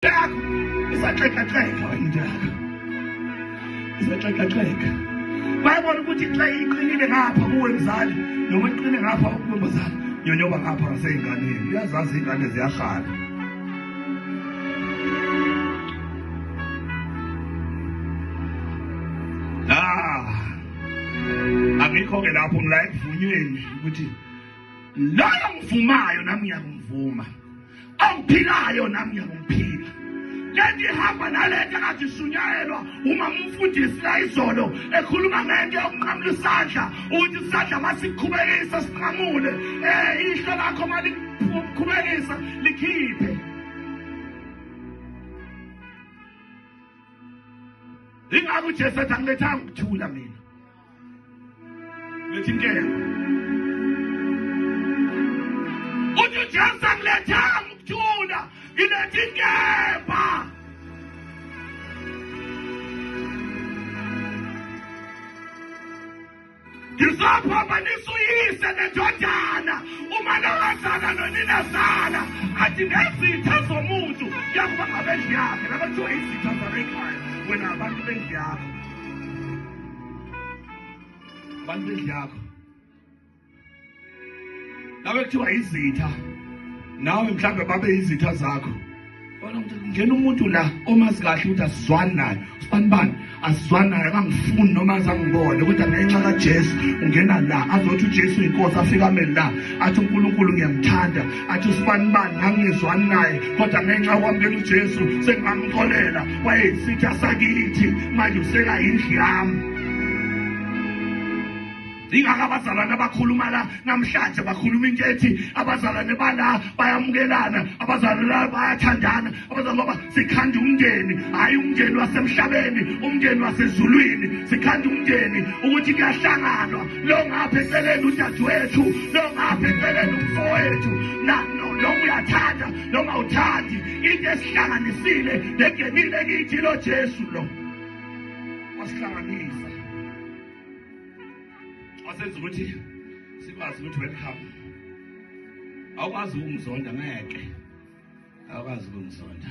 Yakho isaxekaxeka into yakho. Isaxekaxeka. Bayabona ukuthi xa iqinile ngapha kuwe mzali noma iqine ngapha kuwe mzali nyonyoba ngapha ngaseyinganeni uyazazi iy'ngane ziyahana angikho-ke lapho ngila ekuvunyweni ukuthi loyo ngivumayo nami ngiyakumvuma ongiphilayo nami ngiyakumphila lento ihamba nalento kade ishunyayelwa uma umfundisi la izolo ekhuluma ngento yokunqamula isandla ukuthi isandla masikhubekisa sinqamule um eh, ihlo lakho malikhubekisa likhiphe ingakho ujesu ethi angilethanga ukuthula mina Lethintela. Uthi uJesu angilethanga ukuthula, ngiletha inkemba. Ngizophambanisa uyise nendodana uma nowazana noninazana athi nezitha zomuntu yakuba ngabendlu yakhe laba kuthiwa izitha zabekhaya wena abantu bendlu yakho balindlu yakho nawe kuthiwa izitha nawe mhlawumbe babe izitha zakho bona ukuthi ngena umuntu la omazi kahle ukuthi asizwani naye usibani bani asizwani naye akangifuni noma azangibone kodwa ngenxa kajesu ungena la azothi ujesu yinkosi afike ameli la athi unkulunkulu ngiyamthanda athi usibanibani ngangingezwani naye kodwa ngenxa yokwamukela ujesu sengingamxolela wayeyisitha sakithi manje useka yindlu yami ingakho abazalwane abakhuluma la namhlanje bakhuluma into ethi abazalwane bala bayamukelana abazalwane bayathandana Kodwa ngoba sikhanda umndeni, hhayi umndeni wasemhlabeni, umndeni wasezulwini. Sikhanda umndeni ukuthi kuyahlanganwa. Lo ngapha eceleni udadewethu, lo ngapha eceleni umfowethu. Noma uyathanda, noma uthandi. Into esihlanganisile nengenile kithi lo Jesu lo. Wasihlanganisa. Wasenza ukuthi sikwazi ukuthi welcome. Awukwazi ukumzonda ngeke. Awukwazi ukumzonda.